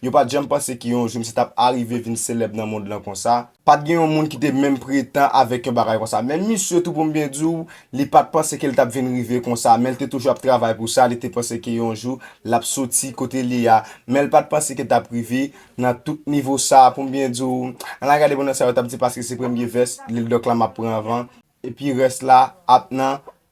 Yo pa t janm panse ke yon jou misye t ap arive vin selèb nan mond lan konsa. Pa t gen yon moun ki te menm pretan avèk yon bagay konsa. Menm misye tou pou m byen di w, li pa t panse ke l t ap vin rive konsa. Men l te toujou ap travay pou sa, li te panse ke yon jou l ap soti kote l ye a. Men l pa t panse ke l t ap rive nan tout nivo sa a pou m byen di w. An n al gade bon nan sa yo t ap di paske se premye vès Lil Dòk la m ap pran anvan. Epi rès la ap nan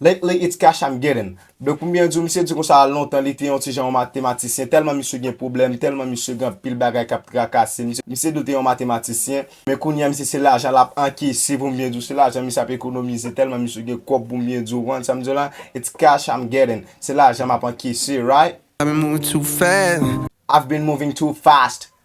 Lately it's cash I'm getting Donk pou m byen di w misye di konsa lontan li te yon ti jan yon matematisyen tèlman misye gen pwoblèm tèlman misye gen anpil bagay k ap trakase misye misye dwe te yon matematisyen men kounye a misye se lajan l ap ankese pou m byen di w se lajan misye ap ekonomize tèlman misye gen kòb pou m byen di w konprann sa m di w la it's cash I'm getting se lajan m ap ankese right? I've been moving too fast.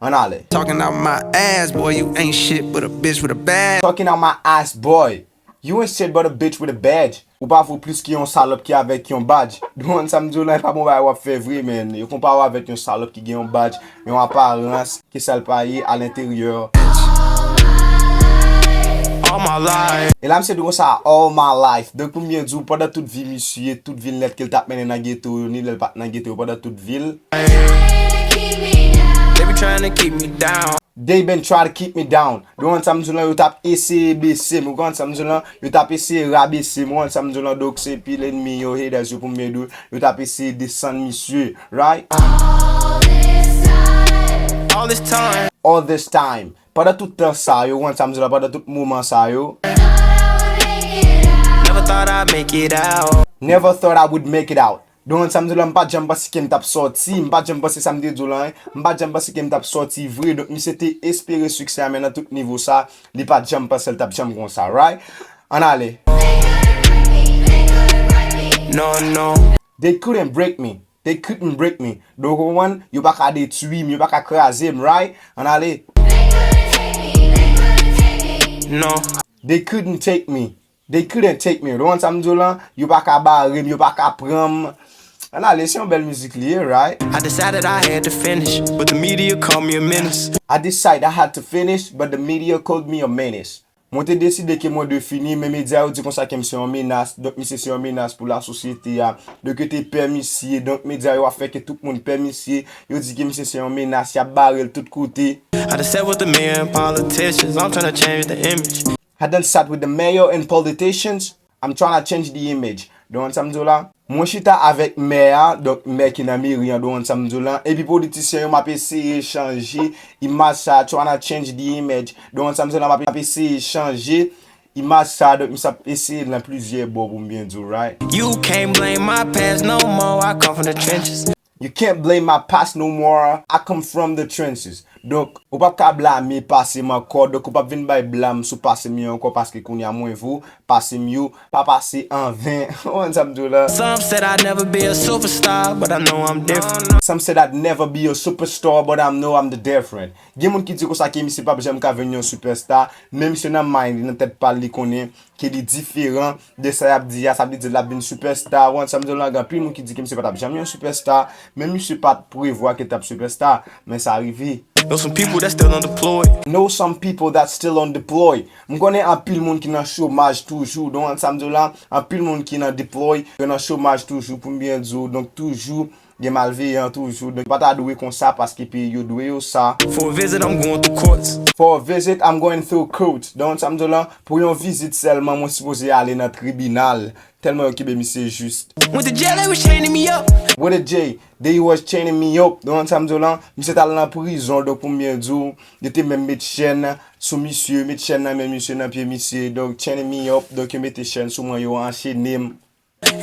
Ann ale. Talking out my ass boy you ain't shit but a bitch with a badge. Talking out my ass boy you ain't shit but a bitch with a badge. Ou pa vo plis ke yon salòp ki avèk yon badj. Dwan sa m di w lan e pa bon bagay wap fè vre man. Yo konpare w avèk yon salòp ki gen yon badj, yon aparans ke sa l pa ye a l'interieur. All my life. E la misye di konsa all my life. Donk pou m byen di w pandan tout vi misye, tout vil nèt ke l tap mennen nan geto yo ni lè l pat nan geto yo pandan tout vi l. They been try to keep me down Yo konn sa m di w lan yo tap eseye bese m Yo konn sa m di w lan yo tap eseye rabese m Ou konn sa m di w lan Donk se pil enmi yo haters yo pou m mède w Yo tap eseye desann misye right All this time Pandan tout tan sa yo Ou konn sa m di w lan Pandan tout moman sa yo Never thought I would make it out Donald sa m di w la m pat janm panse ke m tap sòti, m pat janm panse sa m te di w lan, m pat janm panse ke m tap sòti vre, donk misye te espere siksè a men nan tout nivo sa, li pat janm panse l tap janm konsa right, ann ale. They couldn't break me, they couldn't break me, donk ou konprann, yo pa ka detwi m, yo pa ka kraze m right, ann ale. They couldn't take me, they couldn't take me, They couldn't take me, ou konprann sa m di w lan, yo pa ka bare m, yo pa ka pran m. An ale, se yon bèl mizik li ye, right? I decided I had to finish, but the media called me a menace. I decided I had to finish, but the media called me a menace. Mwen te deside ke mwen dwe fini, men medya yo di konsa ke m se yon menas, donk misye se yon menas pou lasosyete a. Donk yo te pè misye, donk medya yo ap fè ke tout moun pè misye, yo di ke misye se yon menas, y ap bare l tout kote. I done sat with the mayor and politicians, I'm tryna change the image. I done sat with the mayor and politicians, I'm trying to change the image, don an sam diw la? Mwen chita avèk mè a, donk mè ki nan meri an don an sam diw la, epi politisyen yo map eseye chanje imaj sa trying to change the image, don an sam diw la map eseye chanje imaj sa donk misye ap eseye l nan plizyè bò pou m byen diw right. You can't blame my past no more, I come from the trenches Donk, ou pap ka blame pase m ankò Donk ou pap vin bay blam sou pase m yo ankò Paske kounye a mwen vo, pase m yo pa pase an ven Ou konprann sa m di w la? Some said I'd never be a superstar But I know I'm different. Some said I'd never be a superstar But I know I'm the different Gen moun ki di konsa ke misye pap janm ka vin yon superstar Men misye nan mind li, nan tèt pa l li konnen ke li diferan De sa yap di a, sa vle di lap vin super star, ou ansanm zolang anpil moun ki di ke misye patap janm yon super star, men misye pat prevwa ke tap super star, men sa rive. Know some people that still undeployed. Know some people that still undeployed. M konnen anpil moun ki nan chomaj toujou, don ansanm zolang anpil moun ki nan deploy, yo nan chomaj toujou poum byen di w, donk toujou Gen malveyan toujou. Nou pa ta dwe konsa paske peyi yo dwe yo sa. For a visit I'm going through courts. For a visit I'm going through courts. Don sa m di w lan, pou yon vizit sèlman mwen sipoze ale nan tribinal. Tèlman yo kenbe misye jis. With a jail they was chaining me up. With a jail they was chaining me up. Don sa m di w lan, misye t al nan prizon donk pou m byen di w yo te menm met chèn sou misye, met chèn nan men misye, nan pye misye. Donk chaining me up, donk yo mete chèn sou mwen, yo anchene m.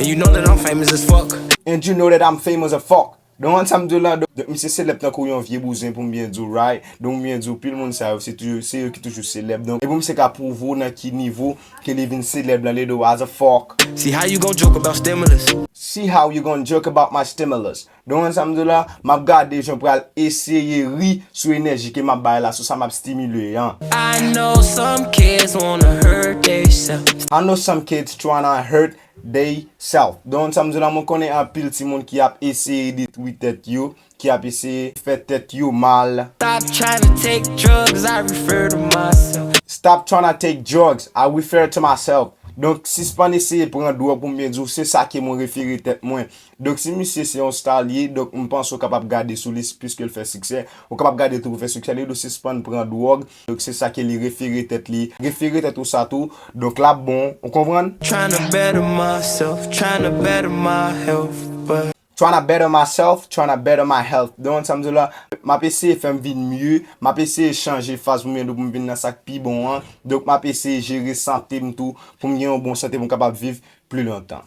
And you know that I'm famous as fuck. And you know that I'm famous as fuck. Donk an sa m di w la, donk misye selèb tankou yon vye bouzen pou m byen di w right, donk m byen di w pil moun sa yo se toujou, se yo ki toujou selèb donk e pou misye ka pwouve w nan ki nivo ke li vin selèb lan le di w as a fuck. See how you gon joke about stimulus. See how you gon joke about my stimulus. Don Juan sa m di w la, m ap gade jan w pral eseye ri sou enèji ke m ap bay la, sou sa m ap stimule an. I know some kids wanna hurt they self. I know some kids tryna hurt they self. Don Juan sa m di w la, mwen konnen anpil timoun ki ap eseye detwi tèt yo, ki ap eseye fè tèt yo mal. Stop tryna take drugs, I refer to myself. Stop tryna take drugs, I refer to myself. Donk, sispann eseye pran dwòg pou m byen di w, se sa ke mwen refere tèt mwen. Donk si misye se yon star li ye, donk m panse ou kapab gade sou li puiske l fè siksè. Ou kapab gade tou pou fè siksè li dwe sispann pran dwòg, donk se sa ke li refere tèt li. Refere tèt ou sa tou, donk l ap bon, ou konprann? Tryna better myself, tryna better my health, but. Tryna better myself, tryna better my health, donk sa m di w la, m ap eseye fè m vin mye, m ap eseye chanje faz pou m gen pou m vin nan sa k pi bon an, donk m ap eseye jere sante m tou pou m gen yon bon sante pou m kapab viv pli lontan.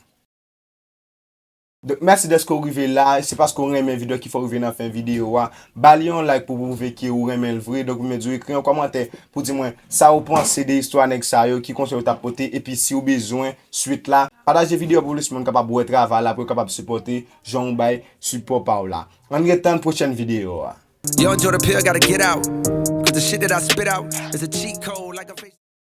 Donk mèsi dèske ou rive la, se paske ou renmen video kifè ou rive nan fen video a, bali yon like pou pwouve ke ou renmen l vre, donk ou mèt di ou ekri yon kòmantè pou di mwen sa ou panse de istwa nèg sa yo, ki konsèy ou tap pote epi si ou bezwen swit la, pataje video a pou plis moun kapab wè travay la pou yo kapab sipòte jan ou bay sipò pa ou la. Ann ret tann pwochèn video a.